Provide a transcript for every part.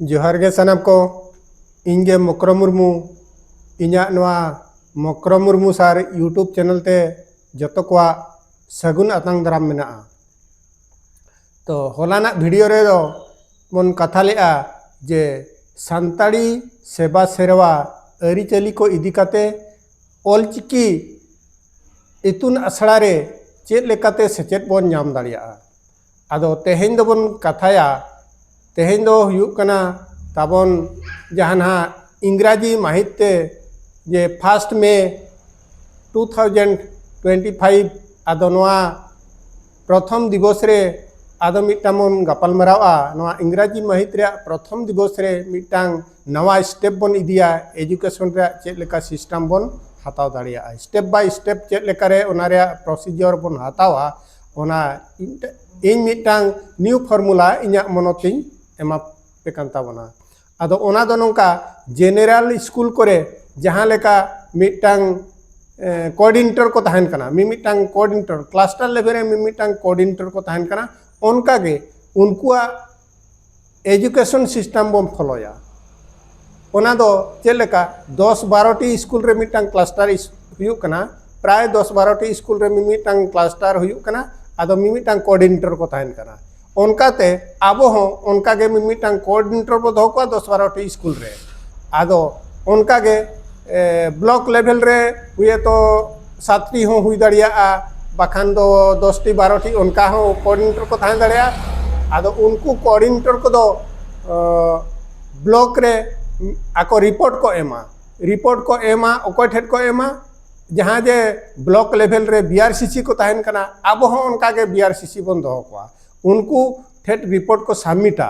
ᱡᱚᱦᱟᱨ ᱜᱮ ᱥᱟᱱᱟᱢ ᱠᱚ ᱤᱧ ᱜᱮ ᱢᱚᱠᱨᱚ ᱢᱩᱨᱢᱩ ᱤᱧᱟᱹᱜ ᱱᱚᱣᱟ ᱢᱚᱠᱨᱚ ᱢᱩᱨᱢᱩ ᱥᱟᱨ ᱤᱭᱩᱴᱩᱵᱽ ᱪᱮᱱᱮᱞ ᱛᱮ ᱡᱚᱛᱚ ᱠᱚᱣᱟᱜ ᱥᱟᱹᱜᱩᱱ ᱟᱛᱟᱝ ᱫᱟᱨᱟᱢ ᱢᱮᱱᱟᱜᱼᱟ ᱛᱚ ᱦᱚᱞᱟᱱᱟᱜ ᱵᱷᱤᱰᱤᱭᱳ ᱨᱮᱫᱚ ᱵᱚᱱ ᱠᱟᱛᱷᱟ ᱞᱮᱜᱼᱟ ᱡᱮ ᱥᱟᱱᱛᱟᱲᱤ ᱥᱮᱵᱟ ᱥᱮᱨᱣᱟ ᱟᱹᱨᱤᱪᱟᱹᱞᱤ ᱠᱚ ᱤᱫᱤ ᱠᱟᱛᱮ ᱚᱞᱪᱤᱠᱤ ᱤᱛᱩᱱ ᱟᱥᱲᱟ ᱨᱮ ᱪᱮᱫ ᱞᱮᱠᱟᱛᱮ ᱥᱮᱪᱮᱫ ᱵᱚᱱ ᱧᱟᱢ ᱫᱟᱲᱮᱭᱟᱜᱼᱟ ᱟᱫᱚ ᱛᱮᱦᱮᱧ ᱫᱚᱵᱚᱱ ᱠᱟᱛᱷᱟᱭᱟ ᱛᱮᱦᱮᱧ ᱫᱚ ᱦᱩᱭᱩᱜ ᱠᱟᱱᱟ ᱛᱟᱵᱚᱱ ᱡᱟᱦᱟᱱᱟᱜ ᱤᱝᱨᱟᱡᱤ ᱢᱟᱹᱦᱤᱛ ᱛᱮ ᱡᱮ ᱯᱷᱟᱥᱴ ᱢᱮ ᱴᱩ ᱛᱷᱟᱣᱡᱮᱱᱰ ᱴᱩᱭᱮᱱᱴᱤ ᱯᱷᱟᱭᱤᱵ ᱟᱫᱚ ᱱᱚᱣᱟ ᱯᱨᱚᱛᱷᱚᱢ ᱫᱤᱵᱚᱥ ᱨᱮ ᱟᱫᱚ ᱢᱤᱫᱴᱟᱝ ᱵᱚᱱ ᱜᱟᱯᱟᱞ ᱢᱟᱨᱟᱣᱟ ᱱᱚᱣᱟ ᱤᱝᱨᱟᱡᱤ ᱢᱟᱹᱦᱤᱛ ᱨᱮᱭᱟᱜ ᱯᱨᱚᱛᱷᱚᱢ ᱫᱤᱵᱚᱥ ᱨᱮ ᱢᱤᱫᱴᱟᱝ ᱱᱟᱣᱟ ᱥᱴᱮᱯ ᱵᱚᱱ ᱤᱫᱤᱭᱟ ᱮᱡᱩᱠᱮᱥᱚᱱ ᱨᱮᱭᱟᱜ ᱪᱮᱫ ᱞᱮᱠᱟ ᱥᱤᱥᱴᱮᱢ ᱵᱚᱱ ᱦᱟᱛᱟᱣ ᱫᱟᱲᱮᱭᱟᱜᱼᱟ ᱥᱴᱮᱯ ᱵᱟᱭ ᱥᱴᱮᱯ ᱪᱮᱫ ᱞᱮᱠᱟᱨᱮ ᱚᱱᱟ ᱨᱮᱭᱟᱜ ᱯᱨᱚᱥᱤᱡᱚᱨ ᱵᱚᱱ ᱦᱟᱛᱟᱣᱟ ᱚᱱᱟ ᱤᱧ ᱢᱤᱫᱴᱟᱝ ᱱᱤᱭᱩ ᱯᱷᱚᱨᱢᱩᱞᱟ ᱤᱧᱟᱹᱜ ᱢᱚᱱᱚᱛᱤᱧ ᱮᱢᱟ ᱯᱮ ᱠᱟᱱ ᱛᱟᱵᱚᱱᱟ ᱟᱫᱚ ᱚᱱᱟ ᱫᱚ ᱱᱚᱝᱠᱟ ᱡᱮᱱᱮᱨᱟᱞ ᱥᱠᱩᱞ ᱠᱚᱨᱮ ᱡᱟᱦᱟᱸ ᱞᱮᱠᱟ ᱢᱤᱫᱴᱟᱝ ᱠᱳᱚᱨᱰᱤᱱᱮᱴᱚᱨ ᱠᱚ ᱛᱟᱦᱮᱱ ᱠᱟᱱᱟ ᱢᱤᱢᱤᱫᱴᱟᱝ ᱠᱳᱚᱨᱰᱤᱱᱮᱴᱚᱨ ᱠᱞᱟᱥᱴᱟᱨ ᱞᱮᱵᱮᱞ ᱨᱮ ᱢᱤᱢᱤᱫᱴᱟᱝ ᱠᱳᱚᱨᱰᱤᱱᱮᱴᱚᱨ ᱠᱚ ᱛᱟᱦᱮᱱ ᱠᱟᱱᱟ ᱚᱱᱠᱟᱜᱮ ᱩᱱᱠᱩᱣᱟᱜ ᱮᱡᱩᱠᱮᱥᱚᱱ ᱥᱤᱥᱴᱮᱢ ᱵᱚᱱ ᱯᱷᱚᱞᱚᱭᱟ ᱚᱱᱟ ᱫᱚ ᱪᱮᱫ ᱞᱮᱠᱟ ᱫᱚᱥ ᱵᱟᱨᱚᱴᱤ ᱥᱠᱩᱞ ᱨᱮ ᱢᱤᱫᱴᱟᱝ ᱠᱞᱟᱥᱴᱟᱨ ᱦᱩᱭᱩᱜ ᱠᱟᱱᱟ ᱯᱨᱟᱭ ᱫᱚᱥ ᱵᱟᱨᱚᱴᱤ ᱥᱠᱩᱞ ᱨᱮ ᱢᱤᱢᱤᱫᱴᱟᱝ ᱠᱞᱟᱥᱴᱟᱨ ᱦᱩᱭᱩᱜ ᱠᱟᱱᱟ ᱟᱫᱚ ᱢᱤᱢᱤᱫᱴᱟᱝ ᱠᱳᱚᱨᱰᱤᱱᱮᱴᱚᱨ ᱠᱚ ᱛᱟᱦᱮᱱ ᱠᱟᱱᱟ ᱚᱱᱠᱟᱛᱮ ᱟᱵᱚ ᱦᱚᱸ ᱚᱱᱠᱟᱜᱮ ᱢᱤᱢᱤᱫᱴᱟᱝ ᱠᱳᱚᱨᱰᱤᱱᱮᱴᱚᱨ ᱵᱚ ᱫᱚᱦᱚ ᱠᱚᱣᱟ ᱫᱚᱥ ᱵᱟᱨᱚᱴᱤ ᱥᱠᱩᱞ ᱨᱮ ᱟᱫᱚ ᱚᱱᱠᱟᱜᱮ ᱵᱞᱚᱠ ᱞᱮᱵᱮᱞ ᱨᱮ ᱦᱩᱭᱮᱛᱚ ᱥᱟᱛᱴᱤ ᱦᱚᱸ ᱦᱩᱭ ᱫᱟᱲᱮᱭᱟᱜᱼᱟ ᱵᱟᱠᱷᱟᱱ ᱫᱚ ᱫᱚᱥᱴᱤ ᱵᱟᱨᱚᱴᱤ ᱚᱱᱠᱟ ᱦᱚᱸ ᱠᱳᱚᱨᱰᱤᱱᱮᱴᱚᱨ ᱠᱚ ᱛᱟᱦᱮᱸ ᱫᱟᱲᱮᱭᱟᱜᱼᱟ ᱟᱫᱚ ᱩᱱᱠᱩ ᱠᱳᱚᱨᱰᱤᱱᱮᱴᱚᱨ ᱠᱚᱫᱚ ᱵᱞᱚᱠ ᱨᱮ ᱟᱠᱚ ᱨᱤᱯᱳᱨᱴ ᱠᱚ ᱮᱢᱟ ᱨᱤᱯᱳᱨᱴ ᱠᱚ ᱮᱢᱟ ᱚᱠᱚᱭ ᱴᱷᱮᱱ ᱠᱚ ᱮᱢᱟ ᱡᱟᱦᱟᱸ ᱡᱮ ᱵᱞᱚᱠ ᱞᱮᱵᱷᱮᱞ ᱨᱮ ᱵᱤ ᱟᱨ ᱥᱤ ᱥᱤ ᱠᱚ ᱛᱟᱦᱮᱱ ᱠᱟᱱᱟ ᱟᱵᱚ ᱦᱚᱸ ᱚᱱᱠᱟᱜᱮ ᱵᱤ ᱟᱨ ᱥᱤ ᱥᱤ ᱵᱚᱱ ᱫᱚᱦᱚ ᱠᱚᱣᱟ ᱩᱱᱠᱩ ᱴᱷᱮᱱ ᱨᱤᱯᱳᱨᱴ ᱠᱚ ᱥᱟᱵᱽᱢᱤᱴᱟ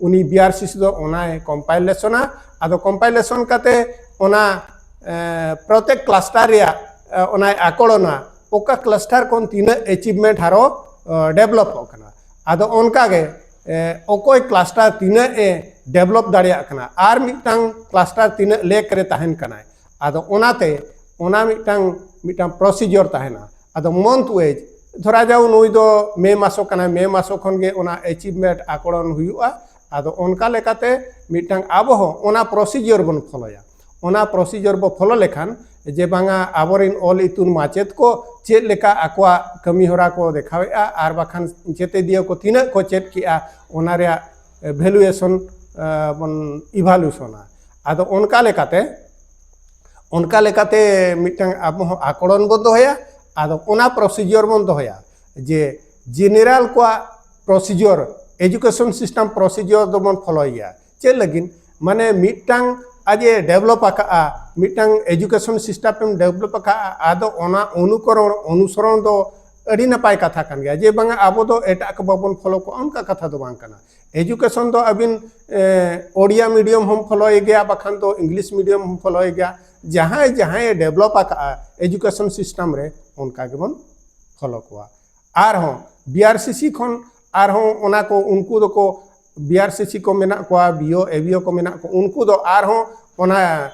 ᱩᱱᱤ ᱵᱤᱟᱨᱥᱤᱥᱤ ᱫᱚ ᱚᱱᱟᱭ ᱠᱚᱢᱯᱟᱭᱞᱮᱥᱚᱱᱟ ᱟᱫᱚ ᱠᱚᱢᱯᱟᱭᱞᱮᱥᱚᱱ ᱠᱟᱛᱮ ᱚᱱᱟ ᱯᱨᱚᱛᱮᱠ ᱠᱞᱟᱥᱴᱟᱨ ᱨᱮᱭᱟᱜ ᱚᱱᱟᱭ ᱟᱠᱚᱲᱚᱱᱟ ᱚᱠᱟ ᱠᱞᱟᱥᱴᱟᱨ ᱠᱷᱚᱱ ᱛᱤᱱᱟᱹᱜ ᱮᱪᱤᱵᱷᱢᱮᱱᱴ ᱦᱟᱨᱚ ᱰᱮᱵᱷᱞᱚᱯᱚᱜ ᱠᱟᱱᱟ ᱟᱫᱚ ᱚᱱᱠᱟᱜᱮ ᱚᱠᱚᱭ ᱠᱞᱟᱥᱴᱟᱨ ᱛᱤᱱᱟᱹᱜ ᱮ ᱰᱮᱵᱷᱞᱚᱯ ᱫᱟᱲᱮᱭᱟᱜ ᱠᱟᱱᱟ ᱟᱨ ᱢᱤᱫᱴᱟᱝ ᱠᱞᱟᱥᱴᱟᱨ ᱛᱤᱱᱟᱹᱜ ᱞᱮᱠ ᱨᱮ ᱛᱟᱦᱮᱱ ᱠᱟᱱᱟᱭ ᱟᱫᱚ ᱚᱱᱟᱛᱮ ᱚᱱᱟ ᱢᱤᱫᱴᱟᱝ ᱢᱤᱫᱴᱟᱝ ᱯᱨᱚᱥᱤᱡᱚᱨ ᱛᱟᱦᱮᱱᱟ ᱟᱫᱚ ᱢᱚᱱᱛᱷ ᱣᱮᱡᱽ ᱫᱷᱚᱨᱟ ᱡᱟᱣ ᱱᱩᱭ ᱫᱚ ᱢᱮ ᱢᱟᱥᱚ ᱠᱟᱱᱟᱭ ᱢᱮ ᱢᱟᱥᱚ ᱠᱷᱚᱱ ᱜᱮ ᱚᱱᱟ ᱮᱪᱤᱵᱷᱢᱮᱱᱴ ᱟᱠᱚᱲᱚᱱ ᱦᱩᱭᱩᱜᱼᱟ ᱟᱫᱚ ᱚᱱᱠᱟ ᱞᱮᱠᱟᱛᱮ ᱢᱤᱫᱴᱟᱝ ᱟᱵᱚ ᱦᱚᱸ ᱚᱱᱟ ᱯᱨᱚᱥᱤᱡᱚᱨ ᱵᱚᱱ ᱯᱷᱚᱞᱚᱭᱟ ᱚᱱᱟ ᱯᱨᱚᱥᱤᱡᱚᱨ ᱵᱚ ᱯᱷᱚᱞᱚ ᱞᱮᱠᱷᱟᱱ ᱡᱮ ᱵᱟᱝᱟ ᱟᱵᱚᱨᱮᱱ ᱚᱞ ᱤᱛᱩᱱ ᱢᱟᱪᱮᱫ ᱠᱚ ᱪᱮᱫ ᱞᱮᱠᱟ ᱟᱠᱚᱣᱟᱜ ᱠᱟᱹᱢᱤ ᱦᱚᱨᱟ ᱠᱚ ᱫᱮᱠᱷᱟᱣᱮᱫᱼᱟ ᱟᱨ ᱵᱟᱠᱷᱟᱱ ᱪᱮᱛᱮᱫᱤᱭᱟᱹ ᱠᱚ ᱛᱤᱱᱟᱹᱜ ᱠᱚ ᱪᱮᱫ ᱠᱮᱜᱼᱟ ᱚᱱᱟ ᱨᱮᱭᱟᱜ ᱵᱷᱮᱞᱩᱭᱮᱥᱚᱱ ᱵᱚᱱ ᱤᱵᱷᱟᱞᱩᱥᱚᱱᱟ ᱟᱫᱚ ᱚᱱᱠᱟ ᱞᱮᱠᱟᱛᱮ ᱚᱱᱠᱟ ᱞᱮᱠᱟᱛᱮ ᱢᱤᱫᱴᱟᱝ ᱟᱵᱚ ᱦᱚᱸ ᱟᱠᱚᱲᱚᱱ ᱵᱚᱱ ᱫᱚᱦᱚᱭᱟ ᱟᱫᱚ ᱚᱱᱟ ᱯᱨᱚᱥᱤᱡᱚᱨ ᱵᱚᱱ ᱫᱚᱦᱚᱭᱟ ᱡᱮ ᱡᱮᱱᱮᱨᱟᱞ ᱠᱚᱣᱟᱜ ᱯᱨᱚᱥᱤᱡᱚᱨ ᱮᱡᱩᱠᱮᱥᱚᱱ ᱥᱤᱥᱴᱮᱢ ᱯᱨᱚᱥᱤᱡᱚᱨ ᱫᱚᱵᱚᱱ ᱯᱷᱚᱞᱚᱭ ᱜᱮᱭᱟ ᱪᱮᱫ ᱞᱟᱹᱜᱤᱫ ᱢᱟᱱᱮ ᱢᱤᱫᱴᱟᱝ ᱟᱡ ᱮ ᱰᱮᱵᱷᱞᱚᱯ ᱟᱠᱟᱫᱼᱟ ᱢᱤᱫᱴᱟᱝ ᱮᱡᱩᱠᱮᱥᱚᱱ ᱥᱤᱥᱴᱮᱢ ᱰᱮᱵᱷᱞᱚᱯ ᱟᱠᱟᱫᱼᱟ ᱟᱫᱚ ᱚᱱᱟ ᱚᱱᱩᱠᱚᱨᱚᱬ ᱚᱱᱩᱥᱚᱨᱚᱬ ᱫᱚ ᱟᱹᱰᱤ ᱱᱟᱯᱟᱭ ᱠᱟᱛᱷᱟ ᱠᱟᱱ ᱜᱮᱭᱟ ᱡᱮ ᱵᱟᱝᱟ ᱟᱵᱚ ᱫᱚ ᱮᱴᱟᱜ ᱠᱚ ᱵᱟᱵᱚᱱ ᱯᱷᱚᱞᱚ ᱠᱚᱣᱟ ᱚᱱᱠᱟ ᱠᱟᱛᱷᱟ ᱫᱚ ᱵᱟᱝ ᱠᱟᱱᱟ ᱮᱡᱩᱠᱮᱥᱚᱱ ᱫᱚ ᱟᱹᱵᱤᱱ ᱳᱰᱤᱭᱟ ᱢᱤᱰᱤᱭᱟᱢ ᱦᱚᱸ ᱯᱷᱚᱞᱚᱭ ᱜᱮᱭᱟ ᱵᱟᱠᱷᱟᱱ ᱫᱚ ᱤᱝᱞᱤᱥ ᱢᱤᱰᱤᱭᱟᱢ ᱦᱚᱸ ᱯᱷᱚᱞᱚᱭ ᱜᱮᱭᱟ ᱡᱟᱦᱟᱸᱭ ᱡᱟᱦᱟᱸᱭ ᱰᱮᱵᱷᱞᱚᱯ ᱟᱠᱟᱫᱼᱟ ᱮᱡᱩᱠᱮᱥᱚᱱ ᱥᱤᱥᱴᱮᱢ ᱨᱮ ᱚᱱᱠᱟ ᱜᱮᱵᱚᱱ ᱯᱷᱚᱞᱚ ᱠᱚᱣᱟ ᱟᱨᱦᱚᱸ ᱵᱤᱟᱨᱥᱤᱥᱤ ᱠᱷᱚᱱ ᱟᱨᱦᱚᱸ ᱚᱱᱟ ᱠᱚ ᱩᱱᱠᱩ ᱫᱚᱠᱚ ᱵᱤᱭᱟᱨᱥᱤᱥᱤ ᱠᱚ ᱢᱮᱱᱟᱜ ᱠᱚᱣᱟ ᱵᱤᱭᱳ ᱮᱵᱤᱭᱳ ᱠᱚ ᱢᱮᱱᱟᱜ ᱠᱚ ᱩᱱᱠᱩ ᱫᱚ ᱟᱨᱦᱚᱸ ᱚᱱᱟ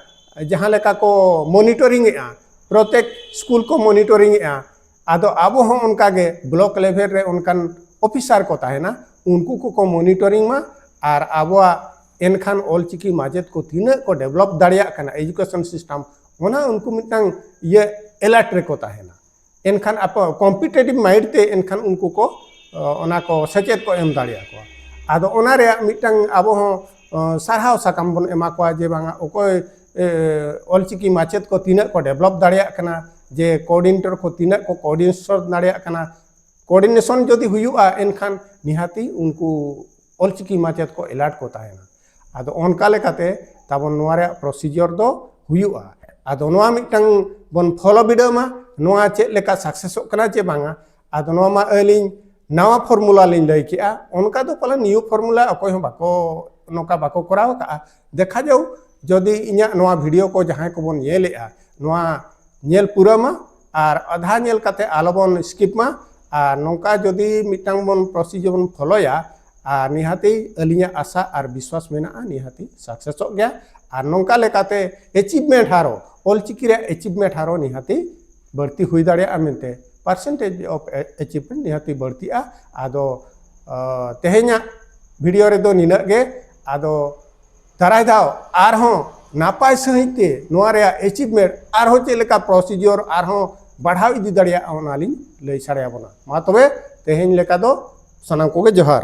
ᱡᱟᱦᱟᱸ ᱞᱮᱠᱟ ᱠᱚ ᱢᱚᱱᱤᱴᱚᱨᱤᱝ ᱮᱜᱼᱟ ᱯᱨᱚᱛᱮᱠ ᱥᱠᱩᱞ ᱠᱚ ᱢᱚᱱᱤᱴᱚᱨᱤᱝ ᱮᱜᱼᱟ ᱟᱫᱚ ᱟᱵᱚ ᱦᱚᱸ ᱚᱱᱠᱟ ᱜᱮ ᱵᱞᱚᱠ ᱞᱮᱵᱷᱮᱞ ᱨᱮ ᱚᱱᱠᱟᱱ ᱚᱯᱷᱤᱥᱟᱨ ᱠᱚ ᱛᱟᱦᱮᱱᱟ ᱩᱱᱠᱩ ᱠᱚᱠᱚ ᱢᱚᱱᱤᱴᱚᱨᱤᱝ ᱢᱟ ᱟᱨ ᱟᱵᱚᱣᱟᱜ ᱮᱱᱠᱷᱟᱱ ᱚᱞᱪᱤᱠᱤ ᱢᱟᱪᱮᱫ ᱠᱚ ᱛᱤᱱᱟᱹᱜ ᱠᱚ ᱰᱮᱵᱷᱞᱚᱯ ᱫᱟᱲᱮᱭᱟᱜ ᱠᱟᱱᱟ ᱮᱰᱩᱠᱮᱥᱚᱱ ᱥᱤᱥᱴᱮᱢ ᱚᱱᱟ ᱩᱱᱠᱩ ᱢᱤᱫᱴᱟᱝ ᱤᱭᱟᱹ ᱮᱞᱟᱨᱴ ᱨᱮᱠᱚ ᱛᱟᱦᱮᱱᱟ ᱮᱱᱠᱷᱟᱱ ᱟᱯᱚ ᱠᱚᱢᱯᱤᱴᱮᱴᱤᱵᱷ ᱢᱟᱭᱤᱰ ᱛᱮ ᱮᱱᱠᱷᱟᱱ ᱩᱱᱠᱩ ᱠᱚ ᱚᱱᱟ ᱠᱚ ᱥᱮᱪᱮᱫ ᱠᱚ ᱮᱢ ᱫᱟᱲᱮᱭᱟ ᱠᱚᱣᱟ ᱟᱫᱚ ᱚᱱᱟ ᱨᱮᱭᱟᱜ ᱢᱤᱫᱴᱟᱝ ᱟᱵᱚ ᱦᱚᱸ ᱥᱟᱨᱦᱟᱣ ᱥᱟᱠᱟᱢ ᱵᱚᱱ ᱮᱢᱟ ᱠᱚᱣᱟ ᱡᱮ ᱵᱟᱝᱟ ᱚᱠᱚᱭ ᱚᱞᱪᱤᱠᱤ ᱢᱟᱪᱮᱫ ᱠᱚ ᱛᱤᱱᱟᱹᱜ ᱠᱚ ᱰᱮᱵᱷᱞᱚᱯ ᱫᱟᱲᱮᱭᱟᱜ ᱠᱟᱱᱟ ᱡᱮ ᱠᱳᱚᱨᱰᱤᱱᱮᱴᱚᱨ ᱠᱚ ᱛᱤᱱᱟᱹᱜ ᱠᱚ ᱠᱳᱚᱨᱰᱤᱱᱮᱥᱚᱱ ᱫᱟᱲᱮᱭᱟᱜ ᱠᱟᱱᱟ ᱠᱳᱚᱨᱰᱤᱱᱮᱥᱚᱱ ᱡᱩᱫᱤ ᱦᱩᱭᱩᱜᱼᱟ ᱮᱱᱠᱷᱟᱱ ᱱᱤᱦᱟᱹᱛᱤ ᱩᱱᱠᱩ ᱚᱞᱪᱤᱠᱤ ᱢᱟᱪᱮᱫ ᱠᱚ ᱮᱞᱟᱨᱴ ᱠᱚ ᱛᱟᱦᱮᱱᱟ ᱟᱫᱚ ᱚᱱᱠᱟ ᱞᱮᱠᱟᱛᱮ ᱛᱟᱵᱚᱱ ᱱᱚᱣᱟ ᱨᱮᱭᱟᱜ ᱯᱨᱚᱥᱤᱡᱚᱨ ᱫᱚ ᱦᱩᱭᱩᱜᱼᱟ ᱟᱫᱚ ᱱᱚᱣᱟ ᱢᱤᱫᱴᱟᱝ ᱵᱚᱱ ᱯᱷᱚᱞᱚ ᱵᱤᱰᱟᱹᱣ ᱢᱟ ᱱᱚᱣᱟ ᱪᱮᱫ ᱞᱮᱠᱟ ᱥᱟᱠᱥᱮᱥᱚᱜ ᱠᱟᱱᱟ ᱪᱮ ᱵᱟᱝᱟ ᱟᱫᱚ ᱱᱚᱣᱟ ᱢᱟ ᱟᱹᱞᱤᱧ ᱱᱟᱣᱟ ᱯᱷᱚᱨᱢᱩᱞᱟ ᱞᱤᱧ ᱞᱟᱹᱭ ᱠᱮᱜᱼᱟ ᱚᱱᱠᱟ ᱫᱚ ᱯᱟᱞᱮ ᱱᱤᱭᱩ ᱯᱷᱚᱨᱢᱩᱞᱟ ᱚᱠᱚᱭ ᱦᱚᱸ ᱵᱟᱠᱚ ᱱᱚᱝᱠᱟ ᱵᱟᱠᱚ ᱠᱚᱨᱟᱣ ᱠᱟᱜᱼᱟ ᱫᱮᱠᱷᱟ ᱡᱟᱣ ᱡᱚᱫᱤ ᱤᱧᱟᱹᱜ ᱱᱚᱣᱟ ᱵᱷᱤᱰᱤᱭᱳ ᱠᱚ ᱡᱟᱦᱟᱸᱭ ᱠᱚᱵᱚᱱ ᱧᱮᱞᱮᱜᱼᱟ ᱱᱚᱣᱟ ᱧᱮᱞ ᱯᱩᱨᱟᱹ ᱢᱟ ᱟᱨ ᱟᱫᱷᱟ ᱧᱮᱞ ᱠᱟᱛᱮ ᱟᱞᱚᱵᱚᱱ ᱥᱠᱤᱯ ᱢᱟ ᱟᱨ ᱱᱚᱝᱠᱟ ᱡᱚᱫᱤ ᱢᱤᱫᱴᱟᱝ ᱵᱚᱱ ᱯᱨᱚᱥᱤᱡᱚᱨ ᱵᱚᱱ ᱯᱷᱚᱞᱚᱭᱟ ᱟᱨ ᱱᱤᱦᱟᱹᱛᱤ ᱟᱹᱞᱤᱧᱟᱜ ᱟᱥᱟ ᱟᱨ ᱵᱤᱥᱣᱟᱥ ᱢᱮᱱᱟᱜᱼᱟ ᱱᱤᱦᱟᱹᱛᱤ ᱥᱟᱠᱥᱮᱥᱚᱜ ᱜᱮᱭᱟ ᱟᱨ ᱱᱚᱝᱠᱟ ᱞᱮᱠᱟᱛᱮ ᱮᱪᱤᱵᱷᱢᱮᱱᱴ ᱦᱟᱨᱚ ᱚᱞᱪᱤᱠᱤ ᱨᱮᱭᱟᱜ ᱮᱪᱤᱵᱷᱢᱮᱱᱴ ᱦᱟᱨᱚ ᱱᱤᱦᱟᱹᱛᱤ ᱵᱟᱹᱲᱛᱤ ᱦᱩᱭ ᱫᱟᱲᱮᱭᱟᱜᱼᱟ ᱢᱮᱱᱛᱮ ᱯᱟᱨᱥᱮᱱᱴᱮᱡᱽ ᱚᱯᱷ ᱮᱪᱤᱵᱷᱢᱮᱱᱴ ᱱᱤᱦᱟᱹᱛᱤ ᱵᱟᱹᱲᱛᱤᱜᱼᱟ ᱟᱫᱚ ᱛᱮᱦᱮᱧᱟᱜ ᱵᱷᱤᱰᱤᱭᱳ ᱨᱮᱫᱚ ᱱᱤᱱᱟᱹᱜ ᱜᱮ ᱟᱫᱚ ᱫᱟᱨᱟᱭ ᱫᱷᱟᱣ ᱟᱨᱦᱚᱸ ᱱᱟᱯᱟᱭ ᱥᱟᱺᱦᱤᱡ ᱛᱮ ᱱᱚᱣᱟ ᱨᱮᱭᱟᱜ ᱮᱪᱤᱵᱷᱢᱮᱱᱴ ᱟᱨᱦᱚᱸ ᱪᱮᱫ ᱞᱮᱠᱟ ᱯᱨᱚᱥᱤᱡᱚᱨ ᱟᱨᱦᱚᱸ ᱵᱟᱲᱦᱟᱣ ᱤᱫᱤ ᱫᱟᱲᱮᱭᱟᱜᱼᱟ ᱚᱱᱟ ᱞᱤᱧ ᱞᱟᱹᱭ ᱥᱟᱰᱮᱭᱟᱵᱚᱱᱟ ᱢᱟ ᱛᱚᱵᱮ ᱛᱮᱦᱮᱧ ᱞᱮᱠᱟ ᱫᱚ ᱥᱟᱱᱟᱢ ᱠᱚᱜᱮ ᱡᱚᱦᱟᱨ